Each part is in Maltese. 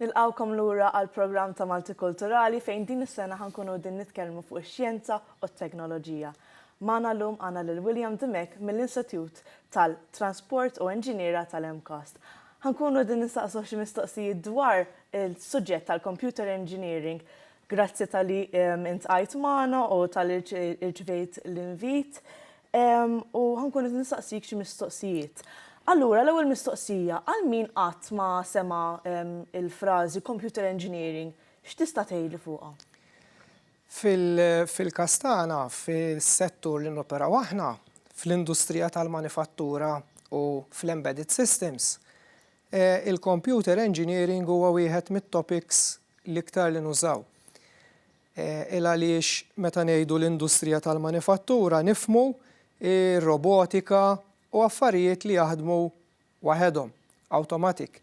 Nilqgħukom lura għall-programm ta' Maltikulturali fejn din is-sena ħa nkunu qegħdin nitkellmu fuq ix-xjenza u t-teknoloġija. Magħna llum għandna lil William Dimech mill-Insetjut tal-Transport u Enġiniera tal-MCAST. Ħa nkunu qegħdin nistaqsuh xi mistoqsijiet dwar is-suġġett tal-Computer Engineering. Grazzi talli iltqajt magħna u talli rċevejt l-invit. U ħa nkun qed nistaqsik xi mistoqsijiet. Allura l-ewwel mistoqsija, għal min qatt ma sema' l-frażi computer engineering, x'tista' tgħidli fuqha? Fil-każ tagħna, fis-settur li noperaw aħna, fl-industrija tal-manifattura u fl-embedded systems, il-computer engineering huwa wieħed mit-topics l-iktar li nużaw. Il għaliex meta ngħidu l-industrija tal-manifattura nifhmu r-robotika u affarijiet li jaħdmu waħedhom, automatic.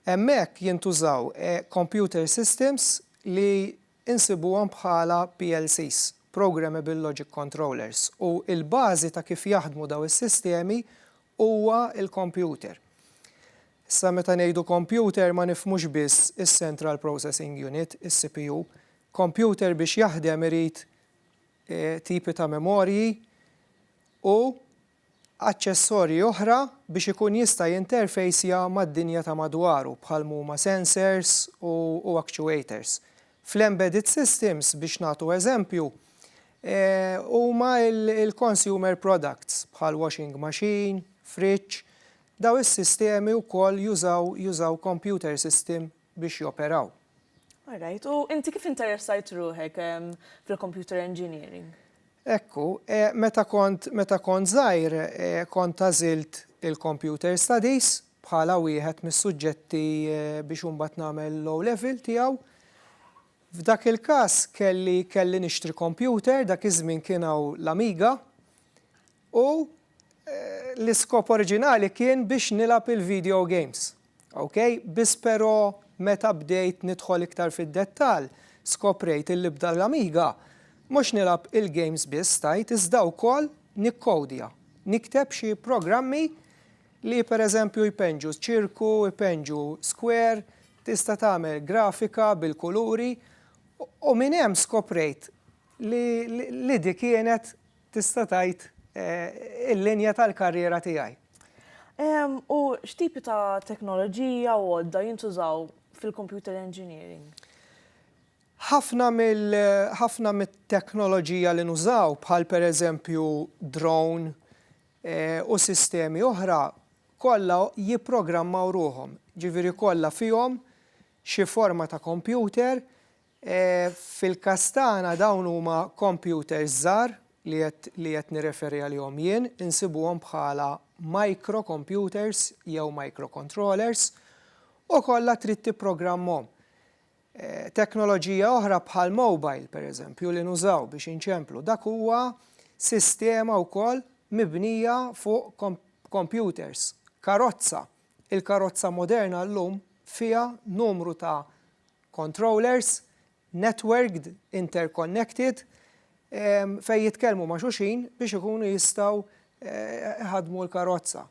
Hemmhekk jintużaw computer systems li nsibuhom bħala PLCs, programmable logic controllers, u l-bażi ta' kif jaħdmu dawn is-sistemi huwa l-kompjuter. Issa meta ngħidu kompjuter ma nifhmux biss is-central processing unit, is-CPU. Kompjuter biex jaħdem irid tipi ta' memorji u aċċessorji oħra biex ikun jista' jinterfejsja mad-dinja ta' madwaru bħal m'huma sensors u actuators. fl-embedded systems biex nagħtu eżempju, huma l-consumer products bħal washing machine, fridge, dawn is-sistemi wkoll jużaw jużaw computer system biex joperaw. All right, u inti kif interessajt ruħek fil-computer engineering? Hekk hu. Meta kont meta kont żgħir kont għażilt il-Computer Studies bħala wieħed mis-suġġetti biex imbagħad nagħmel l-O-Level tiegħu. F'dak il-każ kelli kelli nixtri computer, dak iż-żmien kien hawn l-Amiga, u l-iskop oriġinali kien biex nilgħab il-video games. Ok, biss però meta bdejt nidħol iktar fid-dettall, skoprejt illi b'dan l-Amiga mhux nilgħab il-games biss tajt iżda wkoll nikkowdja, nikteb xi programmi li pereżempju jpenġu ċirku, jpenġu square, tista' tagħmel grafika bil-kuluri u minn hemm skoprejt li li di kienet Tista' tgħid, il-linja tal-karriera tiegħi. U x'tipi ta' teknoloġija u għodda jintużaw fil-computer engineering? Ħafna mill, ħafna mit-teknoloġija li nużaw, bħal pereżempju drone u sistemi oħra, kollha jipprogrammaw ruħhom. Ġifieri kollha fihom xi forma ta' computer Fil-każ tagħna dawn huma kompjuters żgħar li qed nirreferi għalihom jien, insibuhom bħala microcomputers jew microcontrollers u kollha trid tipprogrammhom. Teknoloġija oħra bħal mobile pereżempju li nużaw biex inċemplu dak huwa sistema wkoll mibnija fuq kompjuters, karozza Il-karozza moderna llum fiha numru ta' controllers networked, interconnected, fejn jitkellmu ma' xulxin biex ikunu jistgħu jħaddmu l-karozza.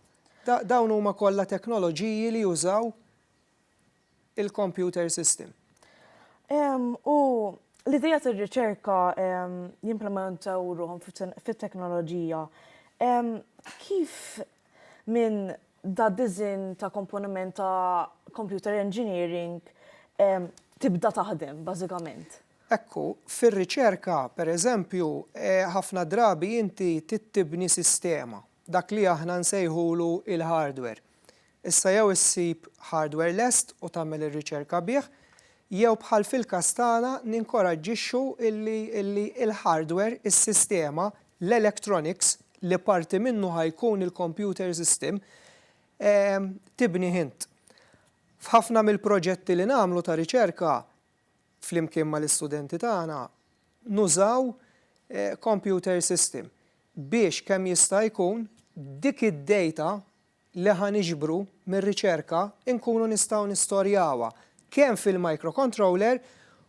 Dawn huma kollha teknoloġiji li jużaw il-computer system. U l-idea tar-riċerka jimplementaw ruħhom fit-teknoloġija. Kif minn dad-disinn ta' komponiment ta' computer engineering tibda taħdem bażikament? Ekku, fir-riċerka, pereżempju, ħafna drabi inti trid tibni sistema, dak li aħna nsejħulu l-hardware. Issa jew issib hardware lest u tagħmel ir-riċerka bih, jew bħal fil-każ tagħna ninkoraġġixxu illi illi l-hardware, is-sistema, l-electronics, li parti minnu ħa jkun il-computer system, ehm, tibnih int. F'ħafna mill-proġetti li nagħmlu ta' riċerka, flimkien mal-istudenti tagħna, nużaw eh, computer system biex kemm jista' jkun dik id-data li ħa niġbru mir-riċerka nkunu nistgħu nistorjawha kemm fil-microcontroller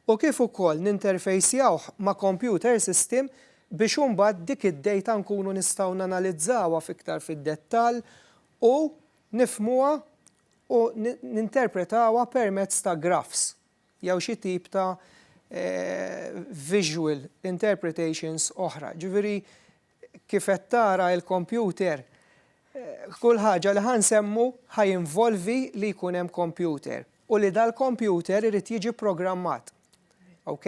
u kif ukoll ninterfejsjawh ma' computer system biex imbagħad dik id-data nkunu nistgħu nanalizzawha f'iktar fid-dettall u nifhmuha u ninterpretawha permezz ta' graphs jew xi tip ta' visual interpretations oħra. Jiġifieri Kif qed tara il-kompjuter, kull ħaġa li ħa nsemmu ħa jinvolvi li jkun hemm kompjuter u li dal-kompjuter irid jiġi pprogrammat. Ok?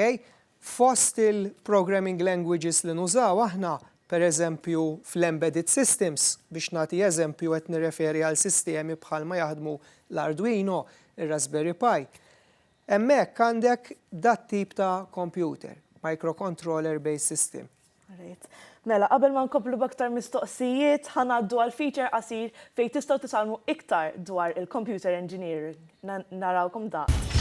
Fost il-programming languages li nużaw aħna, per eżempju fl-embedded systems, biex nagħti eżempju qed nirreferi għal sistemi bħal ma jaħdmu l-Arduino, ir-Raspberry Pi. Hemmhekk għandek dat-tip ta' kompjuter, microcontroller based system. Great. Mela, qabel ma nkomplu b'aktar mistoqsijiet, ħa ngħaddu għal feature qasir fejn tistgħu titgħallmu iktar dwar il-computer engineering. Narawkom daqs.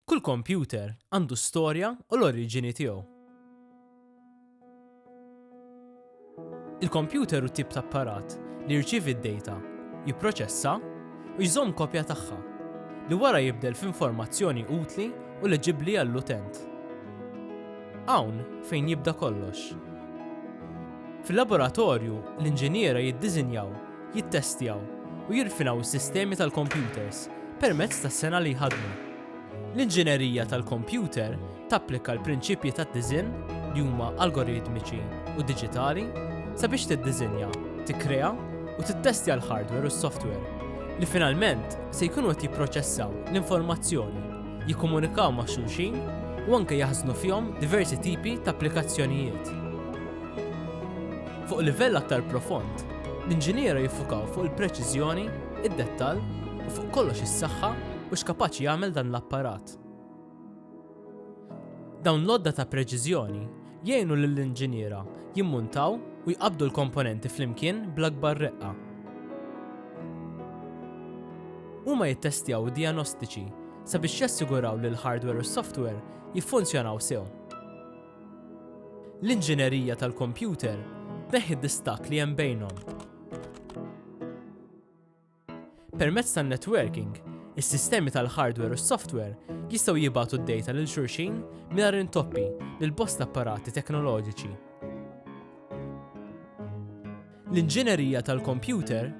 Kull computer għandu storja u l-oriġini tiegħu. Il-kompjuter hu tip ta' apparat li jirċievi d-dejta, jipproċessa, u jżomm kopja tagħha, li wara jibdel f'informazzjoni utli u leġibbli għall-utent. Hawn fejn jibda kollox. Fil-laboratorju, l-inġiniera jiddiżinjaw, jittestjaw, u jirfinaw is-sistemi tal-kompjuters permezz tas-sengħa li jħaddmu. L-inġinerija tal-kompjuter tapplika l-prinċipji tad-diżinn, li huma algoritmiċi u diġitali, sabiex tiddiżinja, tikkrea u tittestja l-hardware u s-software, li finalment se jkunu qed jipproċessaw l-informazzjoni, jikkomunikaw ma' xulxin u anke jaħżnu fihom diversi tipi ta' applikazzjonijiet. Fuq livell aktar profond, l-inġiniera jiffukaw fuq il-preċiżjoni, id-dettall u fuq kollox is-saħħa, u x'kapaċi jagħmel dan l-apparat. Dawn l-għodda ta' preċiżjoni jgħinu lill-inġiniera jimmuntaw u jqabbdu l-komponenti flimkien bl-akbar reqqa. Huma jittestjaw id-dijanostiċi sabiex jassiguraw li l-hardware u s-software jiffunzjonaw sew. L-inġinerija tal-kompjuter tneħħi d-distakk li hemm bejnhom Permezz tan-networking, is-sistemi tal-hardware u s-software jistgħu jibagħtu d-dejta lil xulxin mingħajr intoppi lil bosta apparati teknoloġiċi. L-inġinerija tal-kompjuter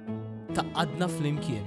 taqgħadna flimkien.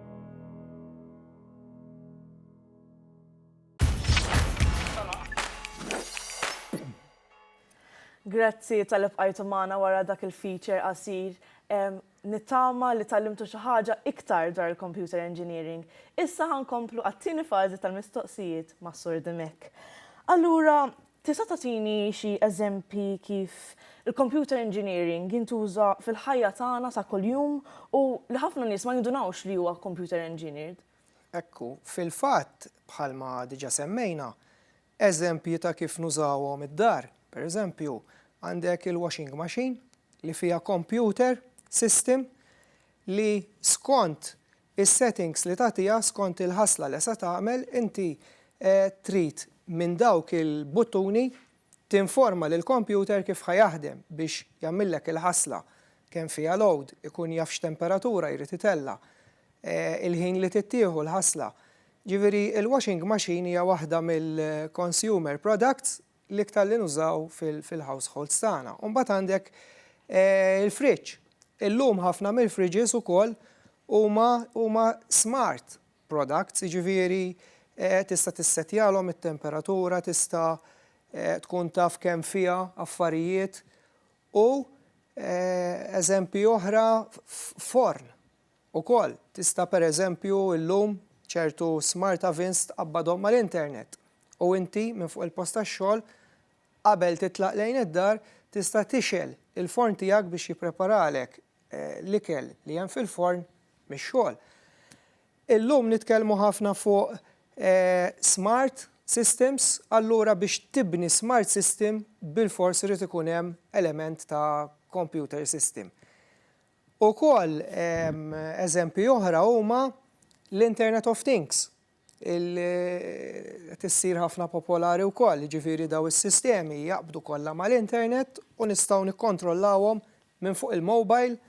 Grazzi tal-ibqajtu maħna wara dak il-feature qasir. Nittama li tal-limtu xaħġa iktar dwar il-computer engineering. Issa ħankomplu għattini fazi tal-mistoqsijiet ma' Sur Dimek. Allura, Tista' tagħtini xi eżempji kif il-computer engineering jintuża fil-ħajja tagħna ta' kuljum u li ħafna nies ma jindunawx li huwa computer engineered? Hekk hu. Fil-fatt, bħalma diġà semmejna, eżempji ta' kif nużawhom id-dar, pereżempju, għandek il-washing machine li fiha computer system li skont is-settings li tagħtiha skont il-ħasla li se tagħmel, inti trid minn dawk il-buttuni tinforma lill-kompjuter kif ħa jaħdem biex jagħmillek il-ħasla, kemm fiha load, ikun jaf x'temperatura jrid itella', il-ħin li tittieħu l-ħasla. Ġifieri l-washing machine hija waħda mill-consumer products l-iktar li nużaw fil-households tagħna. U mbagħad għandek il-fridge. Illum ħafna mill-fridges ukoll huma smart products, jiġifieri tista' tissettjalhom it-temperatura, tista' tkun taf kemm fiha affarijiet u eżempji oħra forn. Ukoll, tista' pereżempju llum ċertu smart ovens tqabbadhom mal-internet u inti minn fuq il-post tax-xogħol qabel titlaq lejn id-dar tista' tixgħel il-forn tiegħek biex jippreparalek l-ikel li hemm fil-forn mix-xogħol. Illum nitkellmu ħafna fuq smart systems, allura biex tibni smart system bilfors irid ikun hemm element ta' computer system. Ukoll eżempji oħra huma l-Internet of Things, li qed issir ħafna popolari wkoll, jiġifieri dawn is-sistemi jaqbdu kollha mal-internet u nistgħu nikkontrollawhom minn fuq il-mobile,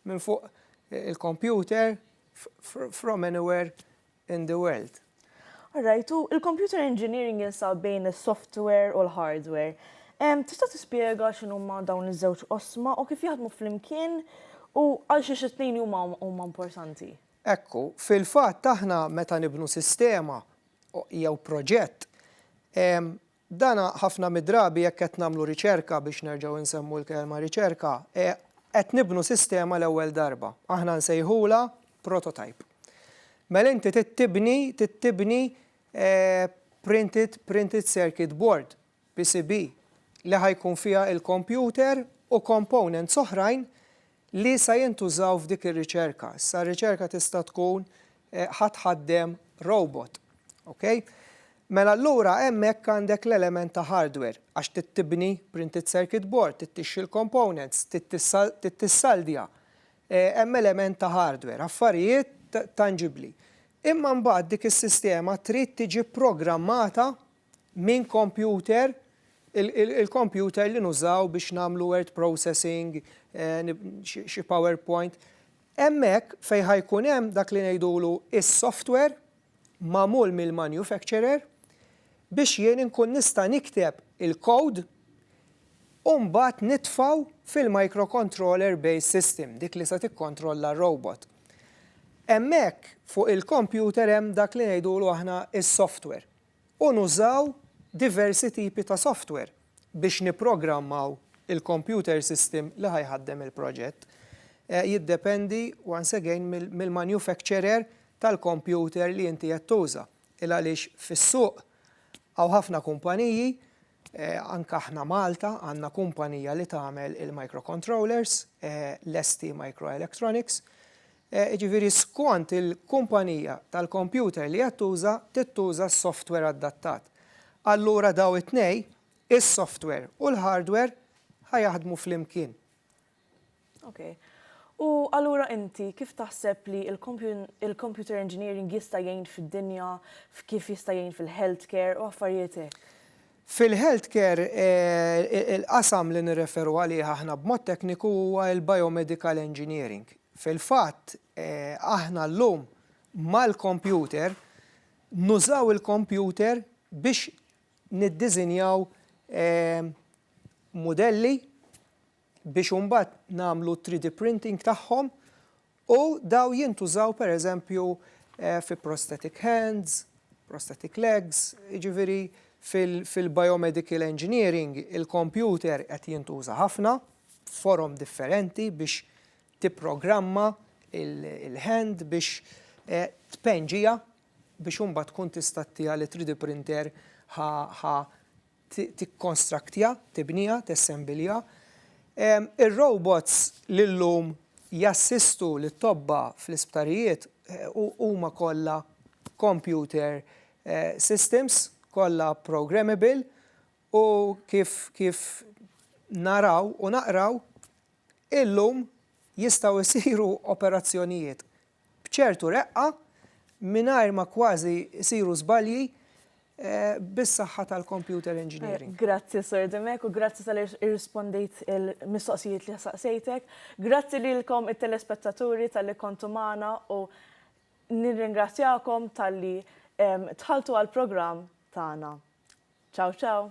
minn fuq il-kompjuter, from anywhere in the world. All right, u l-computer engineering jinsab bejn is-software u l-hardware. Tista' tispjega x'inhuma dawn iż-żewġ qosma u kif jaħdmu flimkien u għalxiex it-tnejn huma huma importanti? Ekku, fil-fatt aħna meta nibnu sistema jew proġett, Dan ħafna mid-drabi jekk qed nagħmlu riċerka, biex nerġgħu insemmu l-kelma riċerka, qed nibnu sistema l-ewwel darba. Aħna nsejħulha prototype. Mela inti trid tibni, trid tibni printed, printed circuit board, PCB, li ħa jkun fiha l-kompjuter u components oħrajn li sa jintużaw f'dik ir-riċerka. Issa r-riċerka tista' tkun ħa tħaddem robot. Ok? Mela allura hemmhekk għandek l-element ta' hardware għax trid tibni printed circuit board, trid tixxi l-components, trid tissaldja. Hemm element ta' hardware, affarijiet tanġibbli. Imma mbagħad dik is-sistema trid tiġi programmata minn kompjuter, il-kompjuter li nużaw biex nagħmlu word processing, xi PowerPoint, hemmhekk fejn ħa jkun hemm dak li ngħidulu s-software magħmul mill-manufacturer biex jien inkun nista' nikteb il-code u mbagħad nitfgħu fil-microcontroller based system, dik li se tikkontrolla r-robot. Hemmhekk fuq il-kompjuter hemm dak li ngħidulu aħna s-software. u nużaw diversi tipi ta' software biex nipprogrammaw il-computer system li ħa jħaddem il-proġett. Jiddependi once again mill-manufacturer tal-computer li inti qed tuża. Il-għaliex fis-suq hawn ħafna kumpaniji, anke aħna Malta għandna kumpanija li tagħmel il-microcontrollers, l-STMicroelectronics, jiġifieri skont il-kumpanija tal-kompjuter li qed tuża, tittuża s-softwer adattat. Allura dawn it-tnejn, is-softwer u l-hardwer, ħa jaħdmu flimkien. Ok. U allura inti kif taħseb li l-computer engineering jista' jgħin fid-dinja, f'kif jista' jgħin fil-healthcare u affarijiet hekk? Fil-health care, il-qasam li nirreferu għalih aħna b'mod tekniku huwa l-biomedical engineering. Fil-fatt, aħna llum mal-kompjuter nużaw il-kompjuter biex niddiżinjaw mudelli biex imbagħad nagħmlu 3D printing tagħhom U dawn jintużaw pereżempju fi prosthetic hands, prosthetic legs, jiġifieri fil-biomedical engineering il-kompjuter qed jintuża ħafna f'forom differenti biex tipprogramma l-hand biex tpenġiha biex imbagħad tkun tista' ttiha li 3D printer ħa tikkonstraktja, tibniha, tessembilja. Ir-robots li llum jassistu lit-tobba fl-isptarijiet huma kollha computer systems, kollha programmable u kif naraw u naqraw, illum jistgħu jsiru operazzjonijiet b'ċertu reqqa, mingħajr ma kważi jsiru żbalji, bis-saħħa tal-computer engineering. Grazzi Sur Dimech u grazzi talli rrispondejt il-mistoqsijiet li saqsejtek. Grazzi lilkom it-telespettaturi talli kontu magħna u nirringrazzjakom talli dħaltu għall-programm tagħna. Ciao ciao!